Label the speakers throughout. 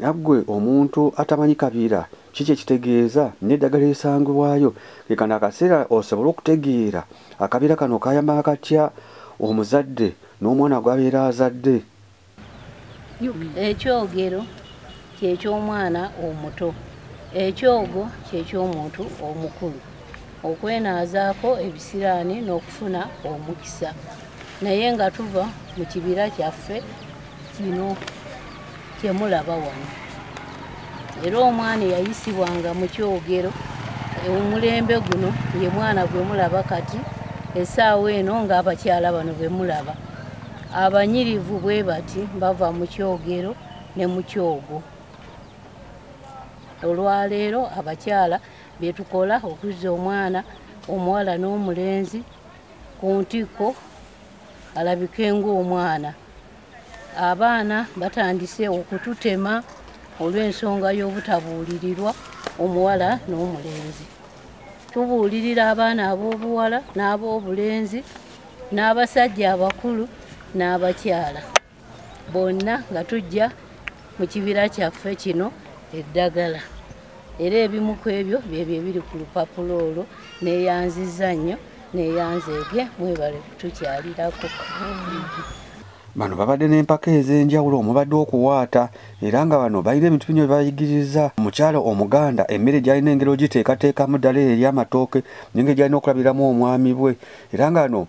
Speaker 1: Naggwe omuntu atamanyi kabiira ki kye kitegeeza n'eddagala erisangibwayo ke kano akaseera osobole okutegeera akabiira kano kayamba katya omuzadde n'omwana gw'abeera azadde.
Speaker 2: Ekyogero kye ky'omwana omuto. Ekyogo kye ky'omuntu omukulu. okwenaazaako ebisiraani n'okufuna omukisa naye nga tuva mu kibira kyaffe kino kyemulaba wano era omwana eyayisibwanga mu kyogero omulembe guno ye mwana gwe mulaba kati esaawa eno ng'abakyala bano be mulaba abanyirivu bwe bati bava mu kyogero ne mu kyogo olwaleero abakyala byetukola okuzza omwana omuwala n'omulenzi ku ntikko alabike ng'omwana abaana batandise okututema olw'ensonga y'obutabuulirirwa omuwala n'omulenzi tubuulirira abaana ab'obuwala n'ab'obulenzi n'abasajja abakulu n'abakyala bonna nga tujja mu kibira kyaffe kino eddagala era ebimu ku ebyo byebyo ebiri ku lupapula olwo neyanziza nnyo neyanzeege mwebale kutukyalirako
Speaker 1: bano babadde n'empaka ez'enjawulo omubadde okuwaata era nga bano balina ebintu binyo byebayigiriza omukyalo omuganda emmere gyalina engeri ogiteekateekamu ddala eri amatooke nenge gyalina okulabiramu omwami bwe era nga no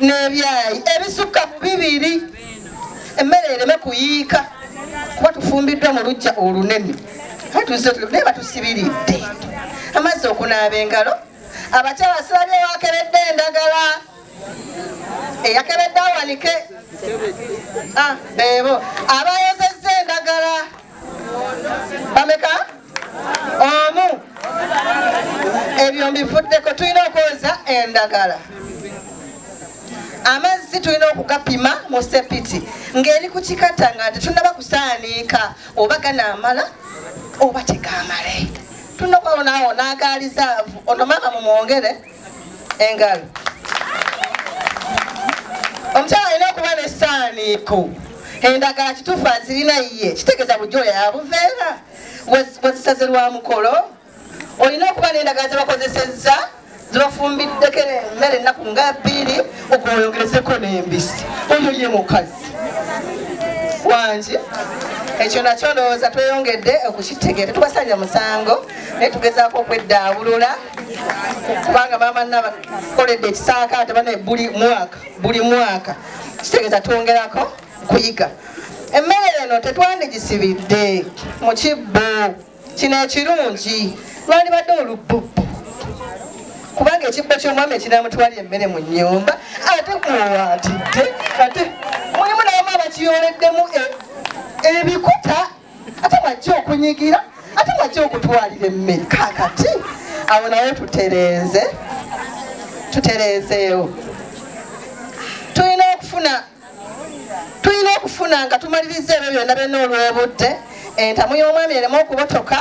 Speaker 3: n'ebyayi ebisukka mu bibiri emmere ereme kuyiika kuba tufumbiddwa mu lujja olunene naye batusibiridde amazzi okunaaba engalo abakyala silabye wakeredde endagala eyakeredde awanike ah, bebo abayozezza endagala bameka omu ebyo mbivuddeko tulina okwoza endagala amazzi tulina okugapima mu sepiti ng'eri ku kikata nga tetunaba kusaaniika oba ganaamala oba tegamale tulina okwawonaawo n'agaalizaavu ono maama mumwongere engalo omukyala alina okuba nesaaniiko endagala kituufu azirina ye kitegeeza bujjo oyo yabuveera wazisaze lwa mukolo olina okuba nendagala zebakozesezza zebafumbiddeko emmere ennaku nga bbiri okweyongerezeko n'embisi oyo ye mukazi wangi ekyo nakyo ndowooza tweyongedde okukitegeera tetubasalira musango naye tugezaako okweddaabulula kubanga maama naba koledde ekisaakaate bana buli mwaka buli mwaka kitegeeza twongerako kuyiga emmere eno tetwandigisibidde mu kibbo kino ekirungi lwalibadde olubbubbu kubanga ekibbo ky'omwami ekinamutwali emmere mu nnyumba ate kuwatidde ate mulimu nabamu abakiyooleddemu e, ebikuta ate mwajja okunyigira ate mwajja okutwalira emmere kakati awo nawe tutereeze tutereezeewo tulina okufuna tulina okufuna nga tumaliriza ebyo byonna byonna olw'obudde entamu y'omwami eremu okubotoka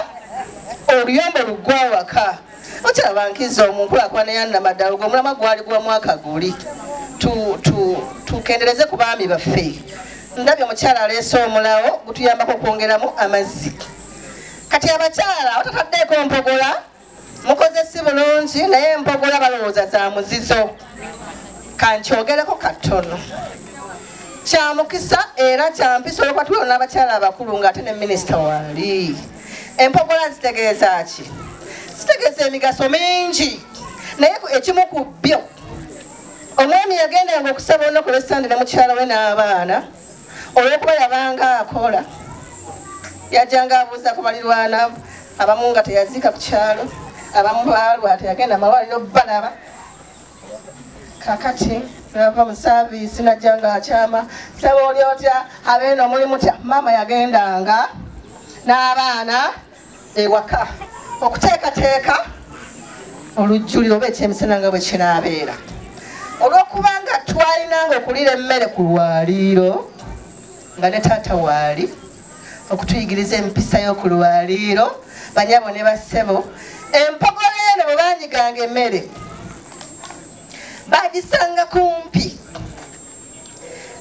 Speaker 3: oluyombo luggwa awaka okiraba nkizo mu nkulakulana ya namaddala ogwo omulama gwali gwa mwaka guli tukendereze ku baami baffe ndabye omukyala aleese omulawo gutuyambako okwongeramu amazzi kati abakyala otataddeeko mpogola mukoze si bulungi naye mpogola balowooza za muzizo kankyogereko katono kyamukisa era kyampisa olwokuba tuliwo n'abakyala abakulu ng'ate ne minisita wali empogola zitegeeza ki zitegeeza emigaso mingi naye ekimu ku byo omwami yagendanga okusaba olunaku lwesande ne mukyala we n'abaana olwokuba yabanga akola yajanga abuuza ku balirwana abamu nga teyaziika ku kyalo abamu baalwa teyagenda mawaliro balaba kakati nava mu saaviisi najja nga akyama saba oli otya abeeno muli mutya maama yagendanga n'abaana ewaka okuteekateeka olujjuliro oba ekyemisana nga bwe kinaabeera olw'okuba nga twalinanga okuliira emmere ku lwaliiro nga ne taata waali okutuyigiriza empisa y'oku lwaliiro banyabo ne bassebo empogola eno bwe banyiganga emmere bagisanga kumpi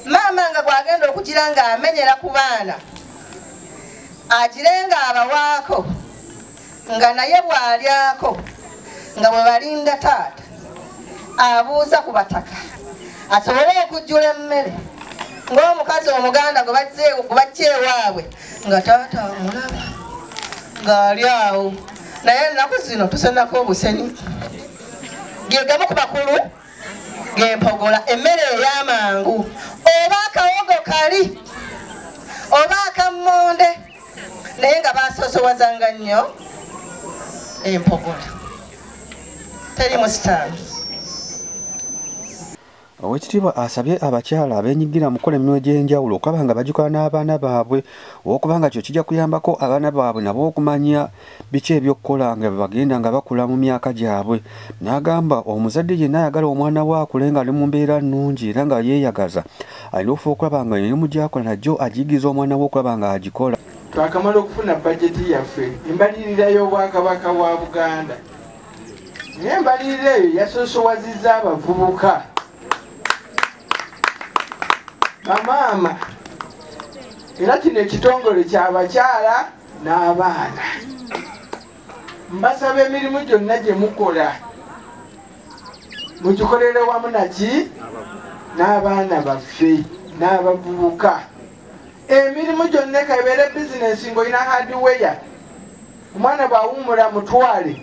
Speaker 3: maama nga gwagenda okugira ng'amenyera ku baana agire ng'abawaako nga naye bw'alyako nga bwe balinda taata abuuza ku bataka asobole okujjula emmere ng'omukazi omuganda gwe bajja ewaabwe nga taata amulaba ng'ali awo naye ennaku zino tusenako obusenyi ge gamu ku bakulu gempogola emmere ey'amangu oba akawogo kali oba akammonde naye nga basoosowazanga nnyo empogola teri musitaano
Speaker 1: owekitiibwa asabye abakyala abenyigira mu kukola emirimu egy'enjawulo okulaba nga bagikola n'abaana baabwe olwokuba nga kyo kijja kuyambako abaana baabwe nabo okumanya biki ebyokukola nga bebagenda nga bakula mu myaka gyabwe n'agamba omuzadde yenna ayagala omwana we akule nga ali mu mbeera nnungi era nga yeeyagaza alina okufuba okulaba nga emirimu gyakola nagyo agiyigiriza omwana we okulaba nga agikola twakamala okufuna
Speaker 4: bajeti yaffe embalirira y'obwakabaka bwa buganda naye embalirira eyo yasoosowaziza abavubuka bamaama era kino ekitongole kyabakyala n'abaana mbasaba emirimu gyonna gye mukola mugikolere wamu naki n'abaana baffe n'abavubuka emirimu gyonna ekabeere bizinesi ng'olina hadiweya omwana bw'awummula mutwale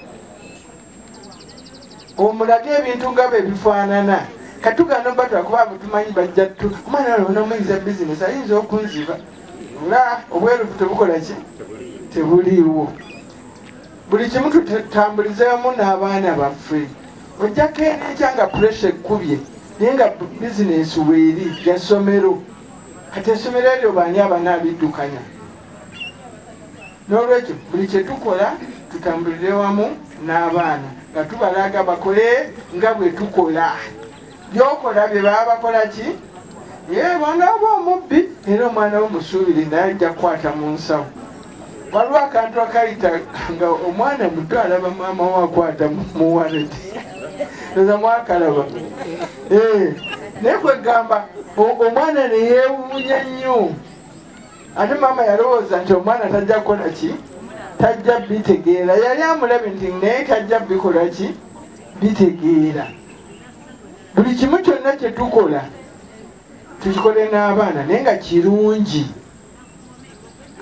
Speaker 4: omulage ebintu nga bwe bifaanana katugano batula kuba abutumanyi bajja tu omwana ono onomuyinza bizinesi ayinza okunziba nga obwerufu tebukola ki tebuliiwo buli kimu tutambulizeemu n'abaana baffe ojjako enenkya nga puresha ekkubye naye nga bizinesi weeri yasomero kati esomero eryo baani abana abiddukanya n'olwekyo buli kye tukola tutambulire wamu n'abaana nga tubalaga bakole nga bwe tukola byokola bye baba bakola ki yebanga oba omubbi era omwana wo musuubire naye ajja kukwata mu nsawo waliwo akantu akayita nga omwana muto alaba maama we akwata mu waleti eza mwakalaba eh, naye kwegamba omwana neyewuunya nnyo ate maama yalowooza nti omwana tajja kukola ki tajja bitegeera yali amulabe nti naye tajja bikola ki bitegeera buli kimu kyonna kyetukola tukikole n'abaana naye nga kirungi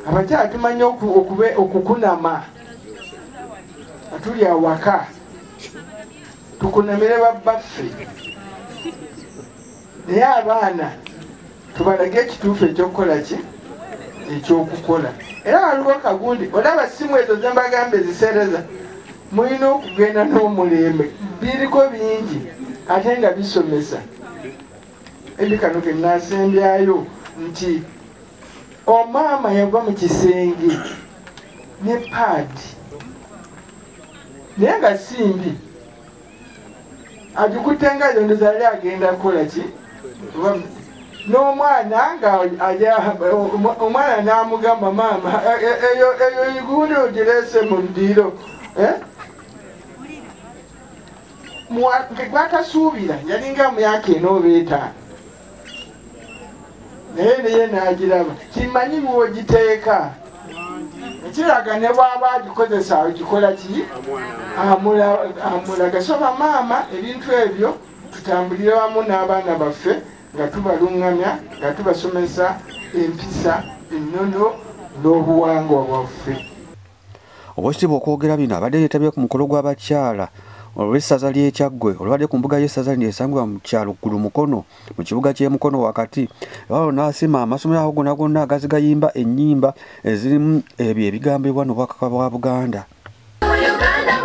Speaker 4: abakyala tumanyi okukunama atuli awaka tukunamire babbaffe naye abaana tubalage ekituufu ekyokukola ki ekyokukola era waliwo kagundi olaba simu ezo zembagamba ezisereza mulina okugenda n'omulembe biriko bingi ate nga bisomesa ebi kano kenasembyayo nti omaama yava mu kisenge ne paadi naye nga simbi agikutte nga yondoza yali agenda kukola ki n'omwana nga omwana n'amugamba maama e, e, eyo igundi ogirese mu ddiiro eh? gwatasuubira yalinga myaka ena oba etaano naye naye nagiraba kimanyi bwogiteeka ekiraga ne bwaba agikozesa ogikola ki amulaga so bamaama ebintu ebyo tutambulire wamu n'abaana baffe nga tubaluŋŋamya nga tubasomesa empisa ennono n'obuwangwa bwaffe
Speaker 1: Owekitiibwa okwogera bino abadde yetabye ku mukolo gw'abakyala olw'essaza ly'ekyaggwe olubadde ku mbuga y'essaza lino esangibwa mu kyalo ggulu mukono mu kibuga ky'e mukono wakati ewalo n'asima amasomero ago gonna gonna agazigayimba ennyimba ezirimu ebyo ebigambibwa n'obwakaka bwa buganda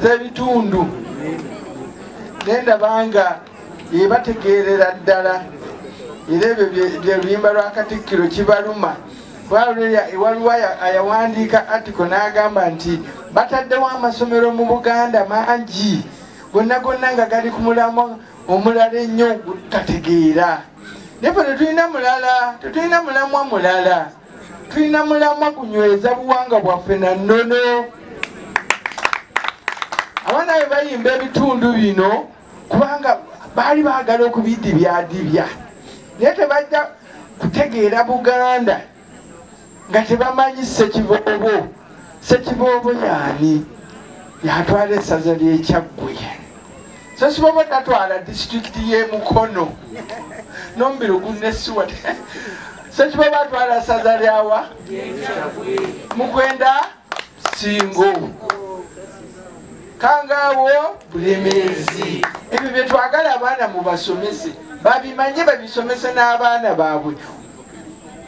Speaker 4: ez'ebitundu nendaba nga ebategeerera ddala era ebyo byeluyimba lwa katikkiro kibaluma waliwo ayawandiika atiko n'agamba nti bataddewo amasomero mu buganda mangi gonna gonna nga gali ku mulamwa omulala ennyo gutategeera naye fe tetulina mulala tetulina mulamwa mulala tulina mulamwa kunyweza buwanga bwaffe na nnono abaana be bayimba ebitundu bino kubanga baali baagala okubidibyadibya naye tebajja kutegeera buganda nga tebamanyi sekiboobo sekiboobo yaani yatwala essaza lyekyaggwe sesiboobo tatwala disitulikiti y'emukono nomubiri ogunnesiwa sekiboobo atwala essaza lyawa mukwenda singo kangaawo bulemeezi ebyo byetwagala abaana mubasomese babimanye babisomese n'abaana baabwe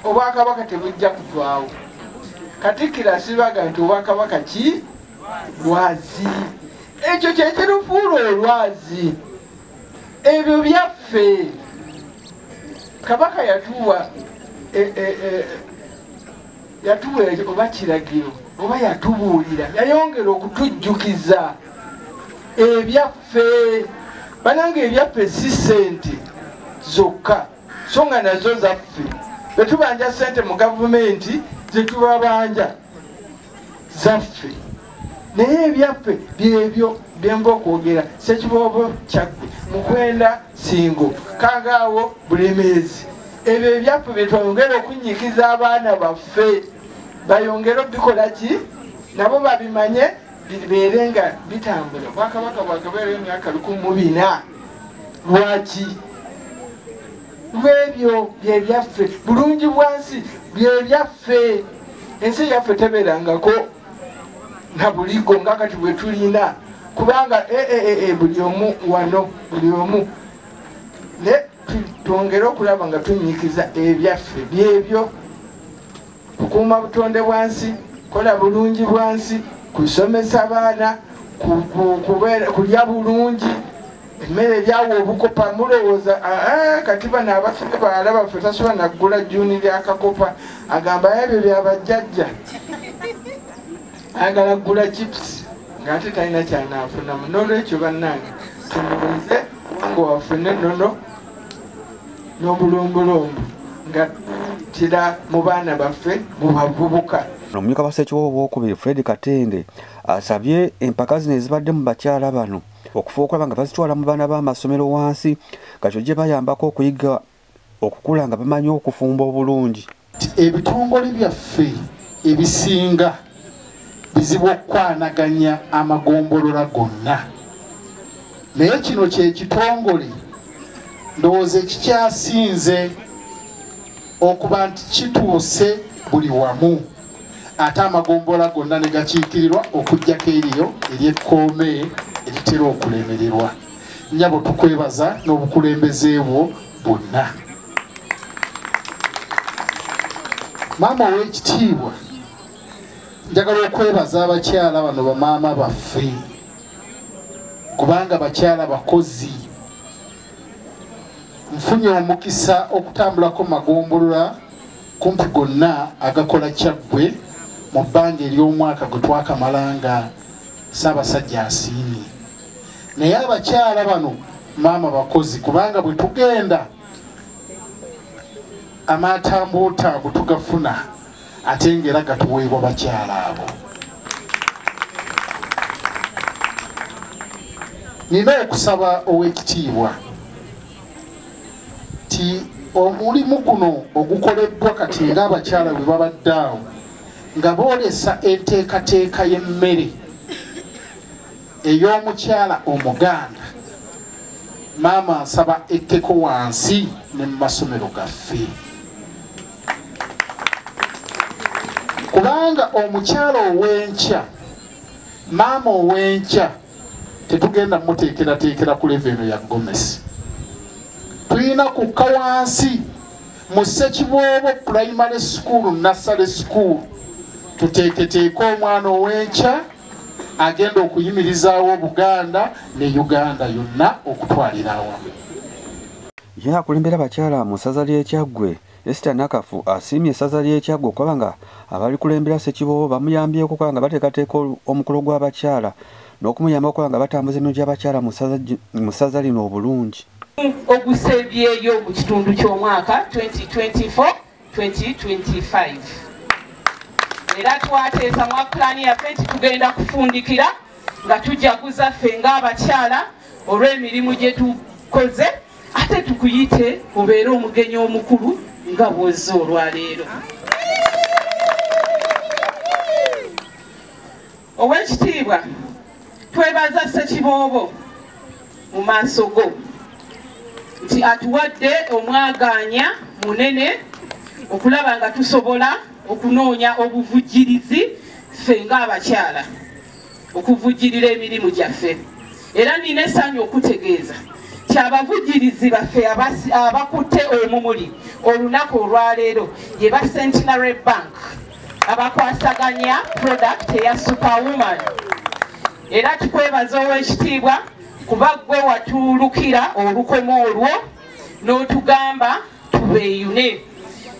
Speaker 4: obwakabaka tebujja kuvaawo katikkiro asibaga nti obwakabaka ki lwazi ekyo kyekirufuula olwazi ebyo byaffe kabaka yatuwa e, e, e, yatuwa oba kiragiro oba yatubuulira yayongera okutujjukiza ebyaffe bananga ebyaffe si sente zokka so nga nazo zaffe betubanja sente mu gavumenti zetubabanja zaffe naye ebyaffe byebyo byemba okwogera sekiboobo kyaggwe mukwenda singo kagaawo bulemeezi ebyo ebyaffe byetwongera okunyikiza abaana baffe bayongere obikola ki nabo babimanye bibeere nga bitambula obwakabaka bwagabeera emyaka lukumu bina lwaki lwebyo byebyaffe bulungi bwansi byebyaffe ensi yaffe tebeerangako nga buligo nga kati bwetulina kubanga eh, eh, eh, buli omu wano buli omu ne twongere okulaba nga tunyikiza ebyaffe byebyo kukuuma butonde bwansi kola bulungi bwansi kusomesa baana kulya bulungi emmere byawa obukopa mulowooza aa kati bano abasibe bawala baffe tasobola naggula juni lyakakopa agamba ebyo byabajjajja ayagala ggula chips ngaate talina kyanaafunamu nolwekyo bannange tumuweze wange wafune nono n'obulombolombo nga tira mu baana baffe mu bavubuka omumyuka basekiwa
Speaker 1: obwokubiri fred katende asabye empaka zino ezibadde mu bakyala bano okufa okulaba nga bazitwala mu baana b'amasomero wansi nga kyo gye bayambako okuyiga okukula nga bamanyi
Speaker 5: okufumba
Speaker 1: obulungi ebitongole
Speaker 5: byaffe ebisinga bizibu okukwanaganya amagombolola gonna naye kino kyekitongole ndowooza ekikyasinze okuba nti kituuse buli wamu ate amagombolola gonna ne gakiikirirwa okuggyako eriyo eryekkoome eritera okulemererwa nyabo tukwebaza n'obukulembeze bwo bwonna maama ow'ekitiibwa njagala okwebaza abakyala bano bamaama baffe kubanga bakyala bakozi nfunye omukisa okutambulako magombolola kumpi gonna agakola kyaggwe mu bbanga ery'omwaka gwe twakamala nga ssaabasajja asiimye naye abakyala bano maama bakozi kubanga bwe tugenda amaatambuutambu tugafuna ate ngaera gatuweebwa bakyala abo nina okusaba ow'ekitiibwa nti omulimu guno ogukoleddwa kati ng'abakyala bwe babadde awo nga boolesa enteekateeka y'emmere ey'omukyala omuganda maama nsaba ekkeko wansi ne mu masomero gaffe kubanga omukyala ow'enkya maama ow'enkya tetugenda muteekerateekera ku leva eno ya gomesi tulina kukka wansi mu ssekiboobo pulayimale sukuulu nassale sukuulu tuteeketeeke omwana ow'enkya agenda okuyimirizaawo obuganda ne uganda yonna okutwalira awamu
Speaker 1: ye akulembera abakyala mu ssaza ly'ekyaggwe Esther Nakafu asiimye essaza ly'e Kyaggwe okuba nga abalikulembera Ssekiboobo bamuyambyeko okuba nga bateekateeka omukolo gw'abakyala n'okumuyamba okuba nga batambuza eno gy'abakyala mu ssaza lino obulungi ogusembyeyo
Speaker 6: mu kitundu ky'omwaka 2024-2025 era twateesa mwa pulaani yaffe nti tugenda kufundikira nga tujaguza ffe ng'abakyala olw'emirimu gye tukoze ate tukuyite obeere omugenyi omukulu nga bwozze olwaleero ow'ekitiibwa twebaza ssekiboobo mu maaso go nti atuwadde omwagaanya munene okulaba nga tusobola okunoonya obuvujjirizi ffe ng'abakyala okuvujjirira emirimu gyaffe era nina essanyu okutegeeza nti abavujjirizi baffe abakutte omumuli olunaku olwaleero ye ba centenary bank abakwasaganya product eya superwoman era tukwebaza ow'ekitiibwa kuba gwe watuulukira olukoma olwo n'otugamba tubeeyune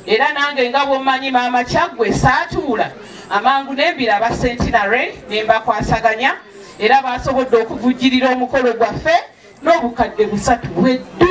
Speaker 6: era nange nga bwomanyi maama kyaggwe saatuula amangu nembira aba sentinary ne mbakwasaganya era baasobodde okuvujjirira omukolo gwaffe n'obukadde busatu bweddu